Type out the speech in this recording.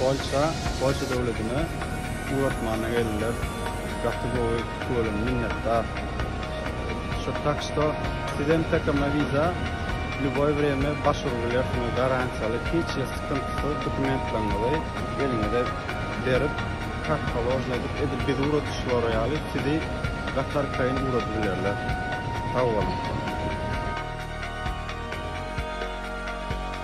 Polşa Polşa döwledine uratmana geldiler gaty gowy köwlem minnetdar şu tak što siz hem tkm wiza lýuboý wremýa baş urup bilersiňiz garantiýaly hiç hil skyntysyz dokumentlaryňyzy eliňize berip kak položno edip edil bizi uradyşlary ýaly sizi gaty arkaýyn uradybilerler sag boluň.